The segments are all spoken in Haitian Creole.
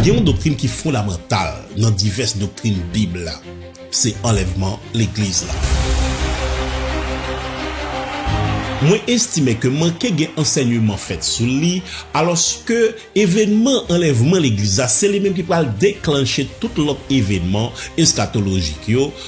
Gen yon doktrin ki fondamantal nan divès doktrin Bib la, se anlèvman Legliz la. Mwen estime ke manke gen ansènyman fèt sou li, alòske evènman anlèvman Legliz la se li menm ki pral deklanche tout lòt evènman eskatolojik yo,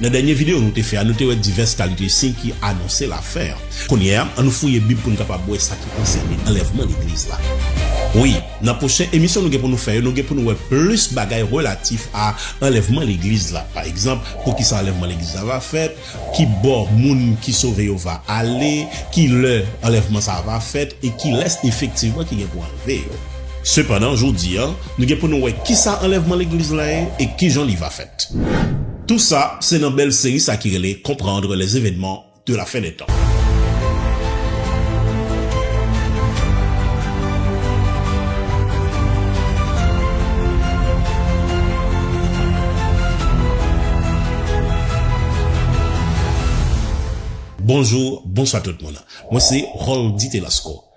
Nan dènye videyo nou te fè a, nou te wè divès kalite siy ki anonse lafen an. Kounye a, annou fouye Bib pou n kapab wè sa ki konsène anlèvman legliz la. Wi, nan pwochen emisyon nou gen pou nou fè yo, nou gen pou nou wè plis bagay relatif a anlèvman legliz la. Pa egzanp, poukisa anlèvman legliz la va fèt, ki bò moun ki sove yo va ale, ki lè anlèvman sa a va fèt e kilès efektivman ki gen pou anlve yo. Sepandan, jodi a, nou gen pou nou wè kisa anlèvman legliz la ye e ki jan li va fèt. Tout sa se nan bèl seri sa ki rele Comprendre les événements de la fin des temps. Bonjou, bonswa tout moun. Mwen se Roldy Telasco.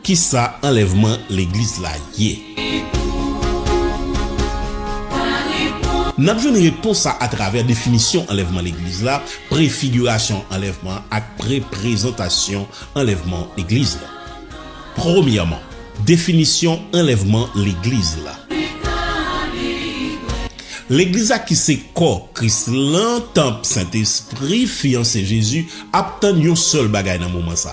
Kisa anlèvman legliz la ye? N ap jwenn repons sa atravè definisyon anlèvman legliz la, prefigirasyon anlèvman an ak preprezantasyon anlèvman legliz la. Premyèman, definisyon anlèvman legliz la. Legliz la ki se kò Kris lan, tanp Sentespri, fyanse Jezi, ap tann yon sèl bagay nan moman sa,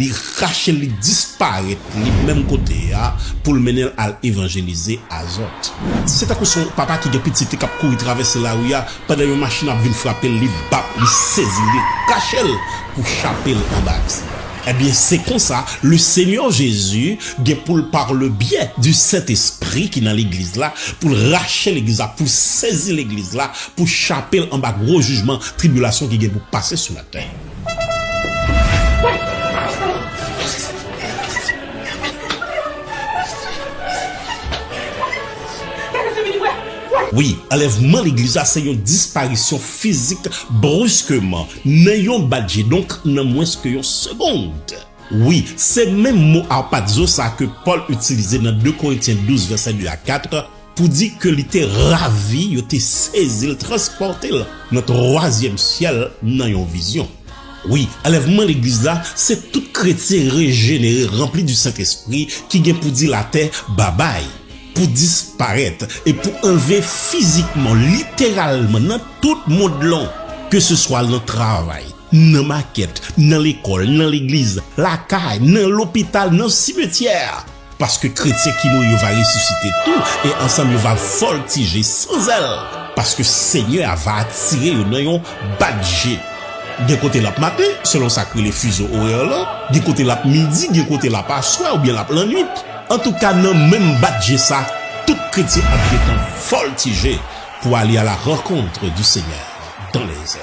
Li rache l, li disparèt, li menm kote a, pou l mennen l al evanjelize Azòt. Se tankou se yon papa ki gen pitit li k ap kouri travèse lari a, pandan yon machin ap vin frape l, li bat, li sezi l, li rache l pou chape l anba aksidan. Ebyen, se konsa, Lesenyè Jezi gen pou l, parlebye di Sentespri ki nan Legliz la, pou l rache Legliz la, pou l sezi Legliz la, pou chape l anba gwo jijman, tribilasyon ki gen pou pase sou. Wi, anlèvman legliz la se yon disparisyon fizik bruskeman, nan yon bat je, donk nan mwens ke yon segond. Wi, se menm mo harpazo sa ke Pòl itilize nan 2 Korentyen 12 vèsè 2 ak 4, pou di ke li te ravi, yo te sezi l, transpòte l nan twazyèm syèl nan yon vizyon. Wi, anlèvman Legliz la, se tout kretyen rejenere ranpli di Sentespri ki gen pou di latè babay, pou disparèt e pou anlve fizikman, literalman nan tout mond lan, keseswa nan travay, nan makèt, nan lekòl, nan legliz, lakay, nan lopital, nan simetyè. Paske kretyen ki mouri yo va resisite tou, e ansanm yo va vòltije san zèl, paske Senyè a va atire yo nan yon bat je. Gen kote l ap maten, selon sa k rele fizo orè lan, gen kote l ap midi, gen kote l ap aswè oubyen l ap lannuit. Antouka, nan menm bat je sa, tout kretyen ap gentan vòltije pou ale a la rankontre di Senyè dan lèzè.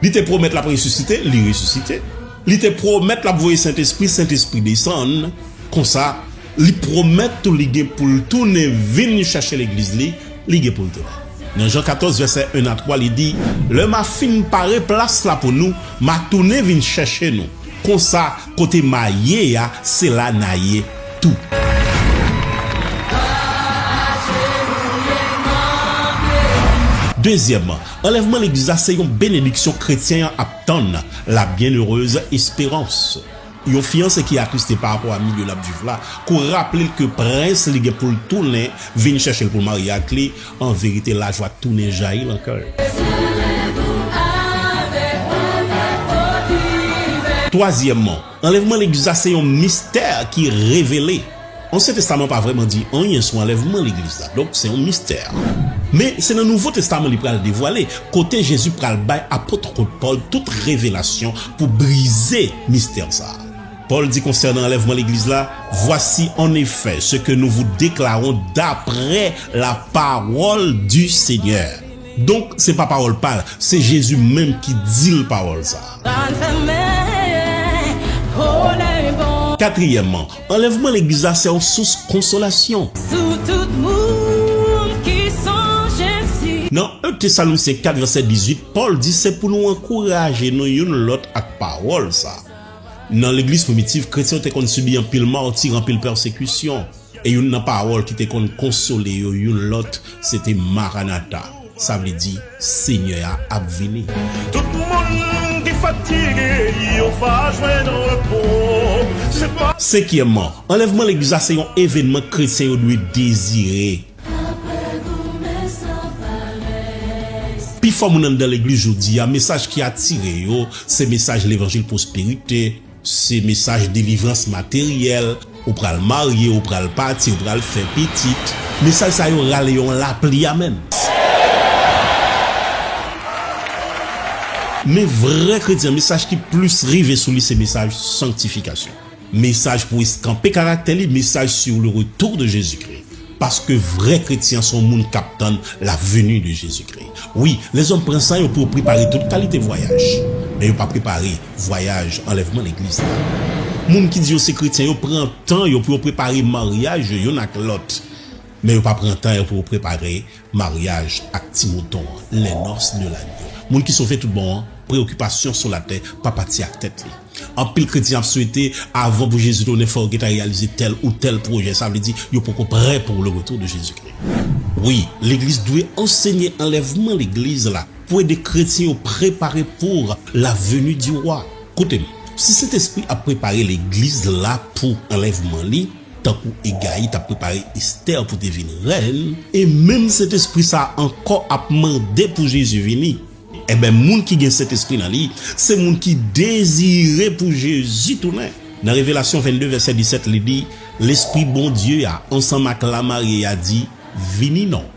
Li te pwomèt l ap resisite, li resisite. Li te pwomèt l ap voye Sentespri, Sentespri desann. Konsa, li pwomèt tou li gen pou l tounen vin chèche Legliz li, li gen pou l tounen. Nan Jan 14 vèsè 1 a 3, li di, Lè m a fin pare plas la pou nou, m a tounen vin chèche nou. Konsa, kote m a ye a, se la n a ye tou. Dezyèmman, Anlèvman legliz la se yon benediksyon kretyen an ap tann, la byennerez esperans. Yon fiyanse ki atriste parapò a milye l ap viv la, kou raple l ke prens li gen pou l tounen vin chèche l pou l marye ak li, anverite lajwa tounen jayi lan kè l. Twazyèmman, Anlèvman legliz la se yon mistè ki revele. Ansyen Testaman pa vrèman di anyen sou anlèvman legliz la, donk se yon mistè. Men, se nan Nouvo Testaman li pral devwale, kote Jezi pral bay apotwkot Pòl tout revelasyon pou brize mistè sa a. Pòl di konsènan anlèvman legliz la, Voici en effet ce que nous vous déclarons d'après la parole du Seigneur. Donk se pa pawòl pa l, se Jezi menm ki di l pawòl sa a. Katriyèmman, anlèvman Legliz la se yon sous konsolasyon. Nan 1 Tesalonisyen 4 vèsè 18, Pòl di se pou nou ankouraje nou youn lòt ak pawòl sa a. Nan Legliz primitiv, kretyen yo te konn sibi anpil mati, anpil pèsekisyon. E youn nan pawòl ki te konn konsole yo youn lòt se te Maranata, sa vle di, Senyè a ap vini. Tout moun ki fatige yo va jwenn repo. Se pa. Senkyèmman, anlèvman legliz la se yon evènman kretyen yo dwe dezire. Pifò moun anndan legliz jodi a, mesaj ki atire yo se mesaj levanjil pwosperite, Se mesaj delivrans materyèl, ou pral marye, ou pral pati, ou pral fè pitit. Mesaj sa yo rale yon lapli amens. Men vrè kretyen, mesaj ki plis rive sou li se mesaj sanktifikasyon. Mesaj pou eskanpe karaktè li, mesaj sur le retour de Jésus-Christ. Paske vrè kretyen se yon moun k ap tann la veni de Jezikri. Wi, lèzòm pran san yo pou yo prepare tout kalite vwayaj, men yo pa prepare vwayaj anlèvman Legliz la. Moun ki di yo se kretyen yo pran tan yo pou yo prepare maryaj yo youn ak lòt, men yo pa pran tan yo pou yo prepare Maryaj ak ti mouton an, les noces de l'agneau. Moun ki sove tout bon an, preyokipasyon sou latè pa pati ak tèt li. Anpil kretyen ap swete avan pou Jezi tounen fò yo gentan reyalize tèl ou tèl pwojè, sa vle di yo poko prè pou le retour de Jezikri. Wi, legliz dwe ansenye anlèvman legliz la pou ede kretyen yo prepare pour la venue du roi. Koute m, si Sentespri ap prepare legliz la pou anlèvman li, Tankou Egayi t ap prepare Esther pou te vin rèn, e menm Sentespri sa a ankò ap mande pou Jezi vini, enben moun ki gen Sentespri nan li se moun ki dezire pou Jezi tounen. Nan Revelasyon 22 vèsè 17 li di, Lespri Bondye a ansanm ak lamarye a di, Vini non.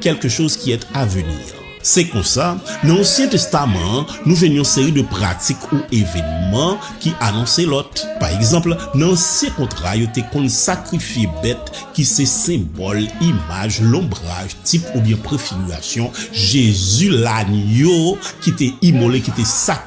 quelque chose qui est à venir. Se konsa, nan Ansyen Testaman an, nou jwenn yon seri de pratik ou evenman ki anonse lòt. Pa egzanp, nan Ansyen Kontra yo te konn sakrifye bèt ki se senbòl, imaj, lonbraj, tip oubyen prefigirasyon Jezi, lanyo ki te imole, ki te sakrifye.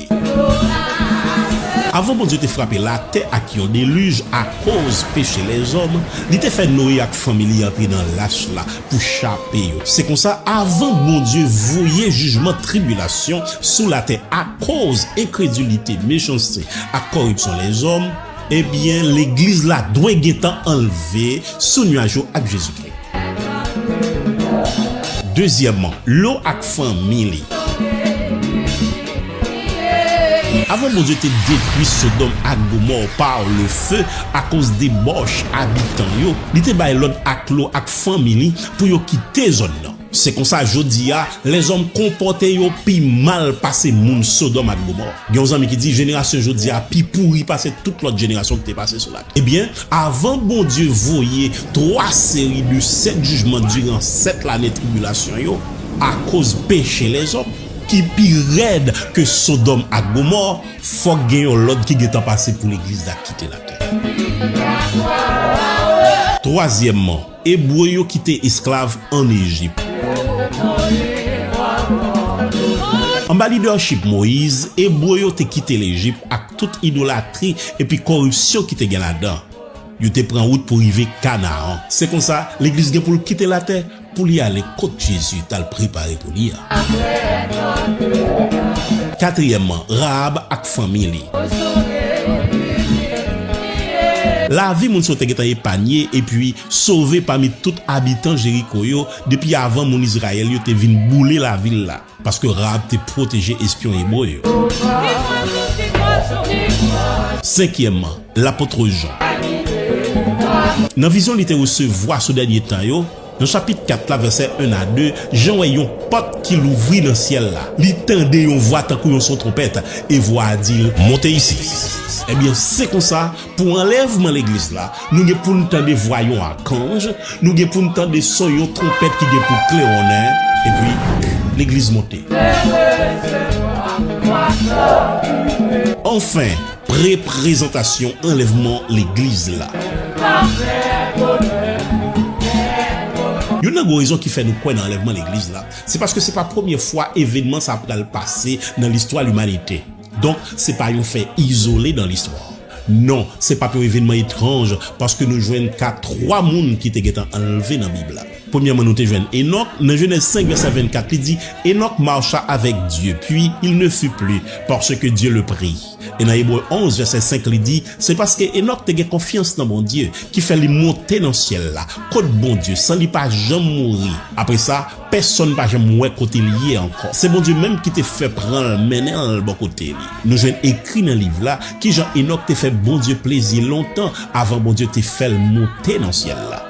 Avan Bondye te frape latè ak yon delij akoz peche lèzòm, li te fè Noye ak fanmi li antre nan lach la pou chape yo. Se konsa, avan Bondye voye jijman tribilasyon sou latè akoz enkredilite, mechanste ak kòripsyon lèzòm, ebyen Legliz la dwe gentan anlve sou nuaj yo ak Jezikri. Dezyèmman, lo ak fanmi li. Avan Bondye te detwi Sodòm ak Gomò pa lefe akoz debòch abitan yo, li te bay lòd ak Lo ak fanmi li pou yo kite zòn nan. Se konsa, jodi a, lèzòm konpòte yo pi mal pase moun Sodòm ak Gomò. Gen yon zanmi ki di, Jenerasyon jodi a pi pouri pase tout lòt jenerasyon ki te pase sou latè. Ebyen, avan Bondye voye twa seri de sèt jijman diran sèt lane tribilasyon yo akoz peche lèzòm, ki pi rèd ke Sodòm ak Gomò, fòk gen yon lòd ki gentan pase pou legliz la kite latè. Twazyèmman, Ebre yo ki te esklav ann Ejip. Anba lidèchip Moyiz, Ebre yo te kite Lejip ak tout idolatri epi koripsyon ki te gen ladan. Yo te pran wout pou rive Kanaran. Se konsa, Legliz gen pou l kite latè pou li ale kot Jezi t al prepare pou li a. Katriyèmman, Rahab ak fanmi li. Lavi moun sa yo te gentan epanye epi sove pami tout abitan Jeriko yo depi avan moun Izrayèl yo te vin boule lavil la, paske Rahab te pwoteje espyon ebre yo. Senkyèmman, Lapot Jan. Nan vizyon li te resevwa sou dènye tan yo, Nan chapit 4 la, vèsè 1 a 2, Jan wè yon pòt ki louvri nan syèl la. Li tande yon vwa tankou yon son twonpèt, e vwa a di l, Monte isi. Ebyen, se konsa, pou anlèvman Legliz la, nou gen pou n tande vwa yon akanj, nou gen pou n tande son yon twonpèt ki gen pou klewonnen, epi Legliz monte. Anfen! Reprezantasyon anlèvman legliz la. Youn nan gwo rezon ki fè nou kwè nan anlèvman legliz la, se paske se pa premye fwa evenman sa pral pase nan listwa limanite. Donk, se pa yon fè izole nan listwa. Non, se pap yon evenman etranj, paske nou jwenn ka twa moun ki te gentan anlve nan Bib la. Premyèman, nou te jwenn Enòk, nan Jenèz 5, vèsè 24, li di, Enòk macha avèk Dye, pi, il ne fut plus, parce que Dieu le prit. E nan Ebre 11, vèsè 5, li di, Se paske Enòk te gen konfyans nan Bondye, ki fè li monte nan syèl la, kot Bondye, san li pa janm mouri. Apre sa, pèsonn pa janm wè kote li ye ankò. Se Bondye menm ki te fè pran l, mennen l bò kote li. Nou jwenn ekri nan liv la, ki jan Enòk te fè Bondye plezi lontan avan Bondye te fè l monte nan syèl la.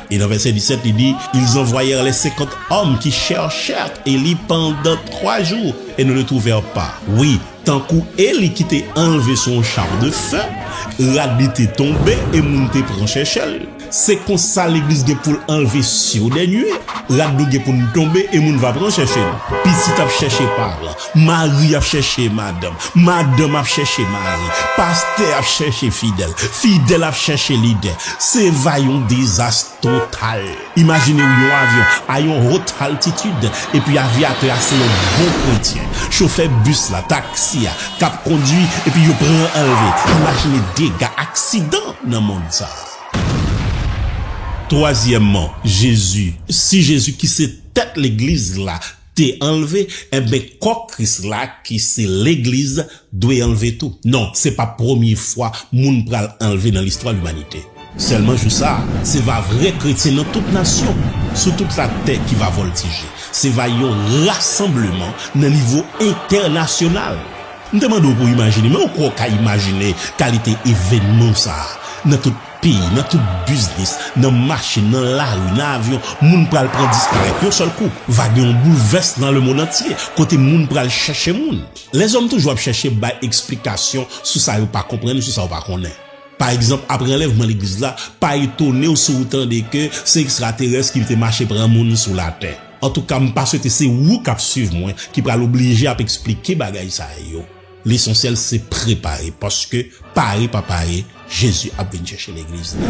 E nan vèsè 17, li di, Ils envoyèrent les cinquante hommes qui cherchèrent Elie pendant trois jours et ne le trouvèrent pas. Wi, tankou Eli ki te anlve sou yon char de feu, rad li te tonbe e moun te pran chèchè l. Se konsa legliz gen pou l anlve siw dènye, rad nou gen pou n tonbe e moun va pran chèche n. Pitit ap chèche paran. Mari ap chèche madanm, madanm ap chèche mari, pastè ap chèche fidèl, fidèl ap chèche lidè. Se va yon dezas total. Imajine w yon avyon a yon haut altitid epi avyatè a se yon bon kretyen. Chofè bis la, taksi a, k ap kondui epi yo pran anlve. Imajine dega, aksidan nan mond sa a. Twazyèmman, Jezi. Si Jezi ki se tèt legliz la, te anlve enben kò Kris la ki se legliz dwe anlve tou. Non, se pa premye fwa moun pral anlve nan listwa limanite. Sèlman jou sa a, se va vrè kretyen nan tout nasyon sou tout latè ki va vòltije. Se va yon rasanbleman nan nivo entènasyonal. M te mande w pou w imajine, men ou kwè w ka imajine kalite evènman sa a nan tout. Peyi, nan tout biznis, nan machin, nan lari, nan avyon, moun pral pran disparèt yon sèl kou. Va gen yon boulvès nan lemonnantye, kote moun pral chèche moun. Lèzòm toujou ap chèche bay eksplikasyon sou sa yo pa konprann, sou sa yo pa konnen. Pa egzanp, apre anlèvman legliz la, pa etone w si w tande ke se ekstraterès ki te mache pran moun sou latè. Antouka, m pa swete se ou k ap swiv mwen ki pral oblije ap eksplike bagay sa yo. Lesansyèl se prepare paske pare pa pare Jezi ap vin chèche legliz li.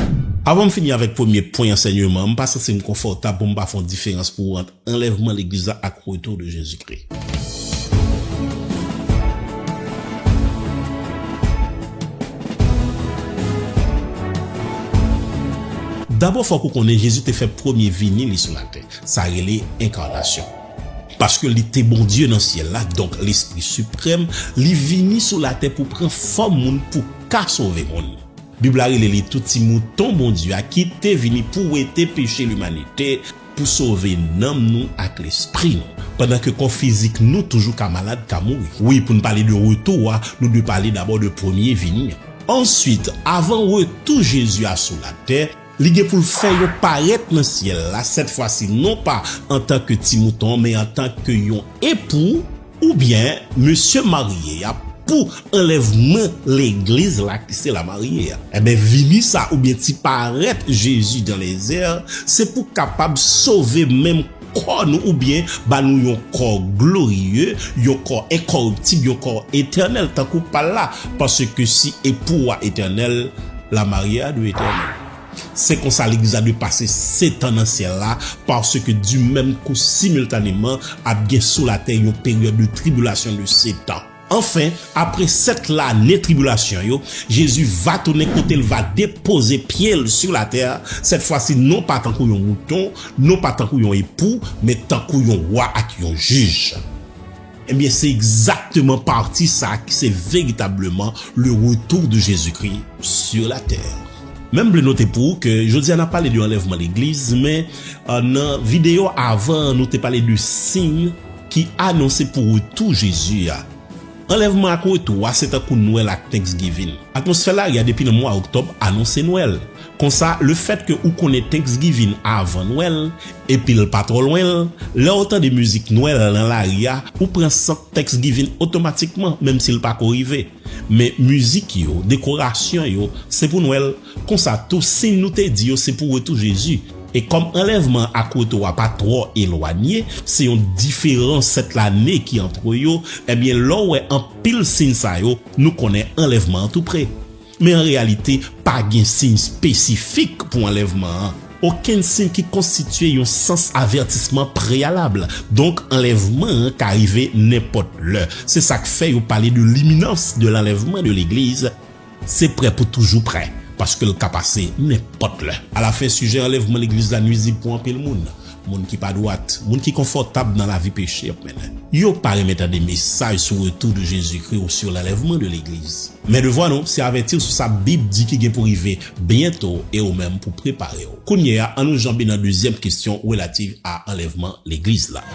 Avan m fini avèk premye pwen ansènyeman an, m pa santi m konfòtab pou m pa fè yon diferans pou ou ant anlèvman legliz la ak retou de Jezi Kri. Dabò fòk ou konnen Jezi te fè premye vini li sou latè, sa rele enkanasyon. Paske li te Bondye nan syèl la, donk Lespri Siprèm, li vini sou latè pou pran fòm moun pou ka sove moun. Bib la rele li tou ti mouton Bondye a ki te vini pou wete peche limanite, pou sove nanm nou ak lespri nou. Pandan ke kò fizik nou toujou ka malad, ka mouri. Wi, pou n pale de retou a, nou dwe pale dabò de premye vini an. Ansuit, avan retou Jezi a sou latè, Li gen pou l fè yo parèt nan syèl la, sètfwasi non pa antanke Ti Mouton men antanke yon epou, oubyen mesye marye a, pou anlèvman Legliz la ki se lamarye a. Enben, vini sa a, oubyen ti parèt Jezi dan lèzè a, se pou kapab sove menm kò nou oubyen ba nou yon kò glorye, yon kò enkòriptib, yon kò etènèl tankou pa l la, paske si Epou a etènèl, lamarye a dwe etènèl. Se konsa Legliz la dwe pase setan nan syèl la, paske di menm kou similtaneman ap gen sou latè yon peryòd de tribilasyon de setan. Anfen, apre sèt lane tribilasyon yo, Jezi va tounen kote l va depoze pye l sou latè, sètfwasi non pa tankou yon mouton, non pa tankou yon epou, men tankou yon Wa ak yon Jij. Ebyen, se egzakteman pati sa a ki se veritableman le retour de Jésus-Christ sur la terre. Men m vle note pou ou ke jodi a n ap pale de anlèvman legliz, men nan videyo avan an nou te pale de siy. ki anonse pou retou Jezi a. Anlèvman ak retou a se tankou Nwèl ak Thanksgiving. Atmosfè lari a depi nan mwa Oktòb anonse Nwèl. Konsa, lefètke ou konnen Thanksgiving avan Nwèl, epi l pa twò lwen, lè ou tande mizik Nwèl nan lari a, ou pran sant Thanksgiving otomatikman, menmsi l pa ko rive. Men, mizik yo, dekorasyon yo, se pou Nwèl. Konsa tou sin nou te di yo se pou retou Jezi, e kòm anlèvman an ak retou a pa twò elwanye, se yon diferans sèt lane ki antre yo, ebyen lè w wè anpil sin sa yo, nou konnen anlèvman an tou pre. Men an reyalite, pa gen sin espesifik pou anlèvman an, okenn sin ki konstitye yon sans avètisman preyalab, donk anlèvman an ka rive nenpòt lè. Se sa k fè yo pale de l'iminans de l'enlèvement de l'Eglise, Se prè pou toujou prè, paske l ka pase nenpòt lè. Alafen, sijè anlèvman legliz la nuizib pou anpil moun. Moun ki pa dwat, moun ki konfòtab nan lavi peche ap mennen. Yo pa renmen tande mesaj sou retou de Jezikri ou sou lanlèvman de legliz. Men devwa nou, se avèti w sou sa Bib di ki gen pou rive byento e ou menm pou prepare w. Kounye a, an nou janbe nan dezyèm kesyon relativ a anlèvman legliz la.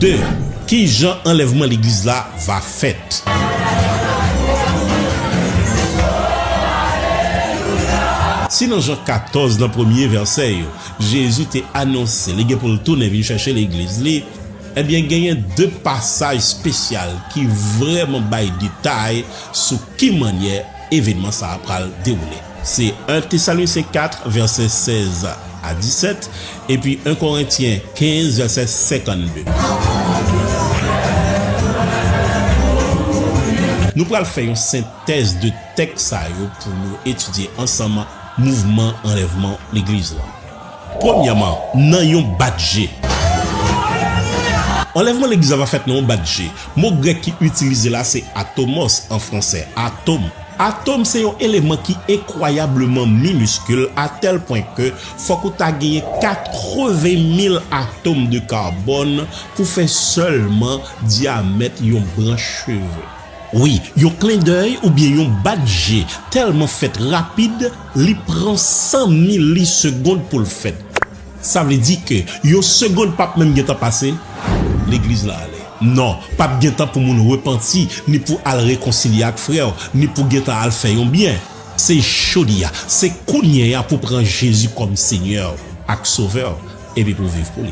De, Ki jan anlèvman legliz la va fèt? Si nan jan 14 nan premye vèsè yo, Jezi te anonse li gen pou l tounen vin chèche Legliz li, enben genyen de pasaj espesyal ki vrèman bay detay sou ki mannyè evenman sa a pral dewoule. Se 1 Tesalonicen 4, vèsè 16 a 17, epi 1 Korentyen 15, vèsè 52. Nou pral fè yon sentèz de tèks sa yo pou nou etidye ansanm. Mouvman anlèvman legliz lan. Premyèman, nan yon bat je. Anlèvman legliz la pa fèt nan yon bat je. Mo grèk ki itilize la se atomos, an fransè, atom. Atom se yon eleman ki enkwayableman miniskil atèl pwen ke fòk ou ta genyen 80 mil atom de karbòn pou fè sèlman dyamèt yon branch cheve. Wi, yon klendèy oubyen yon bat je tèlman fèt rapid, li pran san mili segond pou l fèt. Sa vle di ke yon segond p ap menm gen tan pase, legliz lan ale. Non, p ap gen tan pou moun repanti, ni pou al rekonsilye ak frè w, ni pou gen tan al fè yon byen. Se jodi a, se kounye a pou pran Jezi kòm Senyè w ak Sovè w, epi pou viv pou li.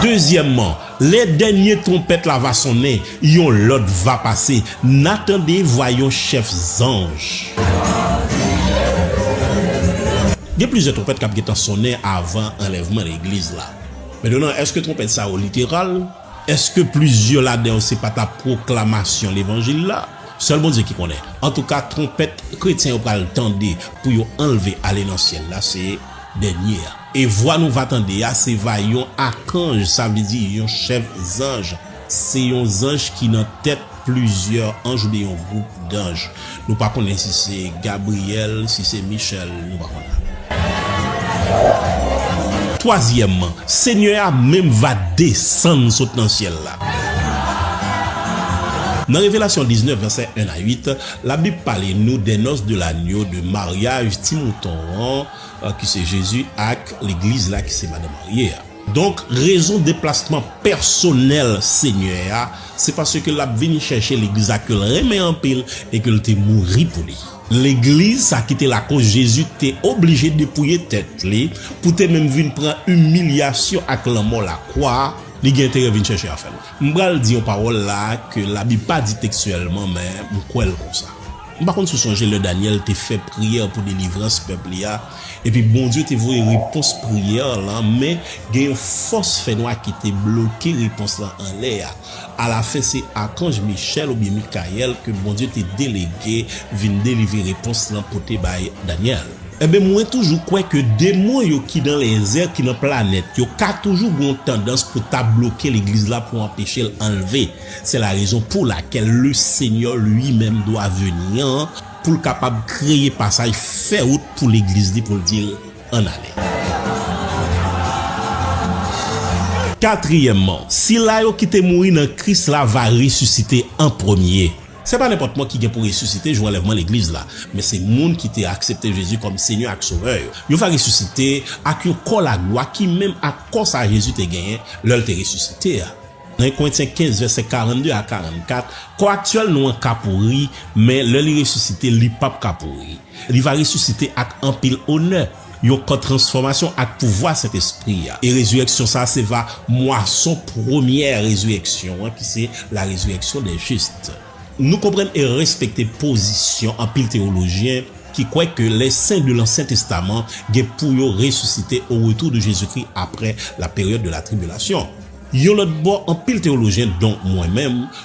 Dezyèmman, Lè dènye twonpèt la va sonnen, yon lòd va pase, N'a tande vwa yon chèf zanj. Gen plizyè twonpèt k'ap gentan sonnen avan anlèvman legliz la. Mentnan, èske twonpèt sa yo literal? Èske plizyè ladan yo se pa ta pwoklamasyon levanjil la? Sèl Bondye ki konnen. Antouka, twonpèt kretyen yo pral tande pou yo anlve ale nan syèl la se. dènye a. E vwa nou va tande a, se va yon akanj, sa vle di yon chèf zanj. Se yon zanj ki nan tèt plizyè anj oubyen yon gwoup danj. Nou pa konnen si se Gabriyèl, si se Michèl, nou pa konnen. Twazyèmman, Senyè a menm va desann sot nan syèl la. Nan Revelasyon 19, vèsè 1 a 8, Labib pale nou des noces de l'agneau, de maryaj ti mouton an, ki se Jezi, ak Legliz la, ki se Madan marye a. Donk, rezon deplasman pèsonèl Senyè a, se paske l ap vin chèche Legliz sa ke l renmen anpil e ke l te mouri pou li. Legliz sa ki te lakoz Jezi te oblije depouye tèt li, pou te menm vin pran imilyasyon ak lanmò lakwa, li gen enterè vin chèche afè l. M pral di yon pawòl la a ke Labib pa di tekstyèlman, men m kwè l konsa. M pa konn si w sonje lè Dànyèl te fè priyè pou delivrans pèp li a, epi Bondye te voye repons priyè l lan, men gen yon fòs fènwa ki te bloke repons lan anlè a. Alafen, se akanj Michèl oubyen Mikayèl ke Bondye te delege vin delivre repons lan pote bay Dànyèl. Enben mwen toujou kwè ke demon yo ki nan lèzè, ki nan planèt yo ka toujou gen yon tandans pou ta bloke legliz la pou anpeche l anlve. Se la rezon pou lakel le Senyè lui menm dwa veni an pou l kapab kreye pasaj, fè wout pou legliz li pou l di l ann ale. Katriyèmman, sila yo ki te mouri nan Kris la va resisite an premye. Se pa nenpòt mò ki gen pou resisite jou anlèvman Legliz la, men se moun ki te aksepte Jezi kòm Senyè ak Sovè yo. Yo va resisite ak yon kò laglwa ki menm ak kò sa Jezi te genyen lè l te resisite a. Nan 1 Korentyen 15, vèsè 42 a 44, kò aktyèl nou an ka pouri, men, lè li resisite, li pap ka pouri. Li va resisite ak anpil onè. Yon kò transfòmasyon ak pouvwa Sentespri a. E rezirèksyon sa a se va mwason premyè rezirèksyon an ki se la rezirèksyon des justes. Nou konprann e respekte pozisyon anpil teyolojyen ki kwè ke lè sen de lansyen testaman gen pou yo resisite o retou de Jezikri apre la peryòd de la tribilasyon. Yon lòt bò anpil teyolojyen donk mwen menm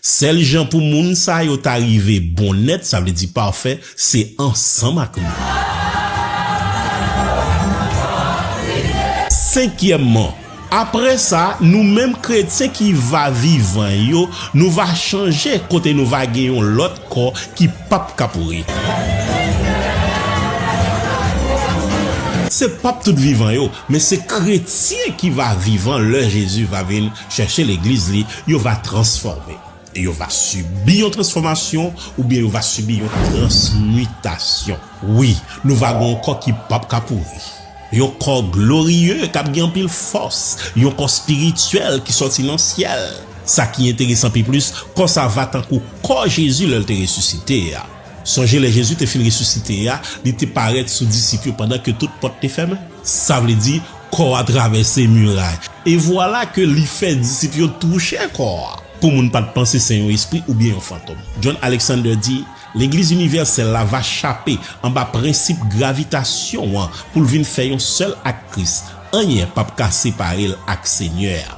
Sèl jan pou moun sa yo ta rive bon nèt, sa vle di pafè, se ansanm ak nou. Senkyèmman, apre sa, nou menm kretyen ki va vivan yo, nou va chanje kote nou va gen yon lòt kò ki pap ka pouri. Se pap tout vivan yo, men se kretyen ki va vivan lè Jezi va vin. Chèche legliz li, yo va transfòme. E yo va sibi yon transfòmasyon, oubyen yo va sibi yon transmitasyon. Wi, nou va gen yon kò ki pap ka pouri. Yon kò gloriye, k ap gen anpil fòs. Yon kò spirityèl ki sòti nan syèl. Sa ki enteresan pi plis, kò sa va tankou kò Jezi lè l te resisite a. Sonje lè Jezi te fin resisite a, li te parèt sou disip yo pandan ke tout pòt te fèmen. Sa vle di, Kò a travèse miray. E vwala ke Li fè disip yo touche kò a. Pou moun pa t panse se yon espri oubyen yon fantom. John Alexander di, Legliz inivèsèl la va chape anba prensip gravitasyon an pou l vin fè yon sèl ak Kris. Anyen pap ka separe l ak Senyè a.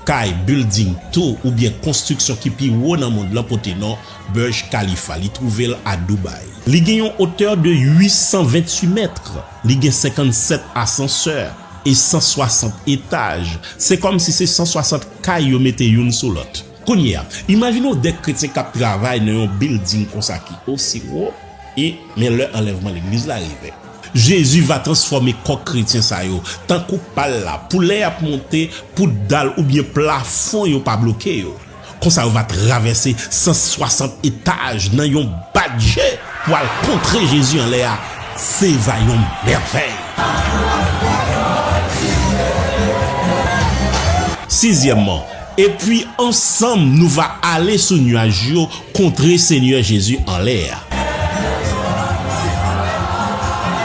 Kay, bilding, tou oubyen konstriksyon ki pi wo nan mond lan pote non Burj Khalifa. Li twouve l a Dubai. Li gen yon otè de 828 mètre. Li gen 57 asansè e 160 etaj. Se kòmsi se 160 kay yo mete youn sou lòt. Kounye a, imajine w de kretyen k ap travay nan yon bilding konsa ki osi wo, e, men lè anlèvman legliz la rive. Jezi va transfòme kò kretyen sa yo, tankou pa l la, pou lè y ap monte, pou dal oubyen plafon yo pa bloke yo. Konsa yo va travèse 160 etaj nan yon bat je pou al kontre Jezi anlè a. Se va yon mèvèy! Sizyèmman, Epi ansanm nou va ale sou nuaj yo kontre Senyè Jezi anlè a.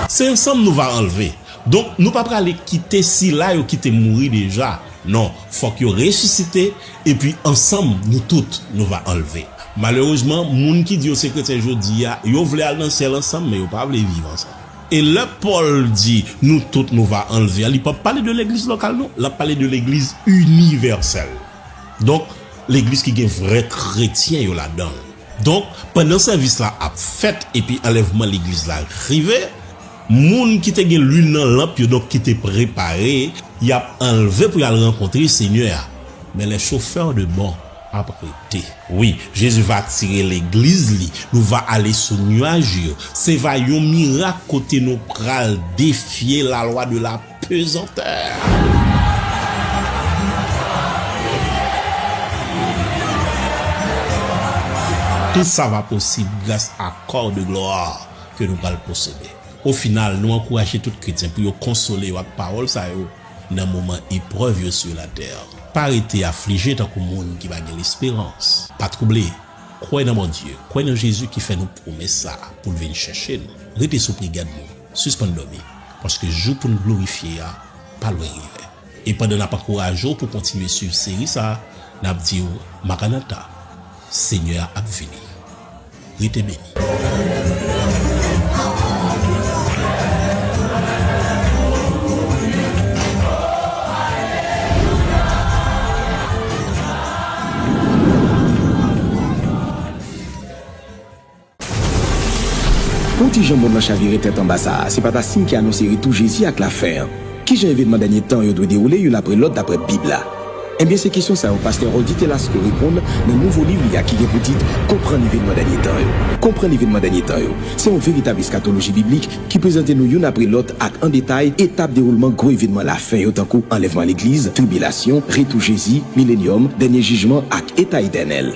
Se ansanm nou va anlve. Donk, nou pa prale kite sila yo ki te mouri deja. Non, fòk yo resisite. Epi ansanm nou tout nou va anlve. Malerezman, moun ki di yo se kretyen jodi a, yo vle al nan syèl ansanm, men yo pa vle viv ansanm. E lè Pòl di nou tout nou va anlve a, li pap pale de legliz lokal non, l ap pale de legliz inivèsèl. Donk, legliz ki gen vrè kretyen yo ladan l. Donk, pandan sèvis la ap fèt epi anlèvman legliz la rive, moun ki te gen luil nan lanp yo, donk ki te prepare, y ap anlve pou y al rankontre Senyè a. Men lè chofè de bò ap rete. Wi, Jezi va tire legliz li, nou va ale sou nuaj yo. Se va yon mirak kote nou pral defye lalwa de la. Tout sa va posib gras a kò de glwa ke nou pral posede. O final, nou ankouraje tout kretyen pou yo konsole yo ak pawòl sa yo nan moman eprèv yo sur la tè. Pa rete aflije tankou moun ki pa gen lesperans. Pa twouble. Kwè nan Bondye, kwè nan Jezi ki fè nou pwomès sa pou l vin chèche nou. Rete sou prigad nou. Sispann dòmi, paske jou pou n glorifye a pa lwen rive. E pandan n ap ankouraje w pou w kontinye suiv seri sa, n ap di w Maranata! Senyè a ap vini! Rete beni! Pou ti jan mond lan chavire tèt anba sa a, se pa ta siy ki anonse retou Jezi ak lafen an? Ki jan evenman dènye tan yo dwe dewoule youn apre lòt dapre Bib la? Ebyen, se kesyon sa yo pastè Rudy Telasco reponn nan nouvo liv li a ki gen pou tit Konprann evenman dènye tan yo. Konprann evenman dènye tan yo se yon veritab eskatoloji biblik ki prezante nou youn apre lòt ak an detay etap dewoulman gwo evenman lafen yo tankou anlèvman legliz, tribilasyon, retou Jezi, milenyòm, dènye jijman ak eta etènèl.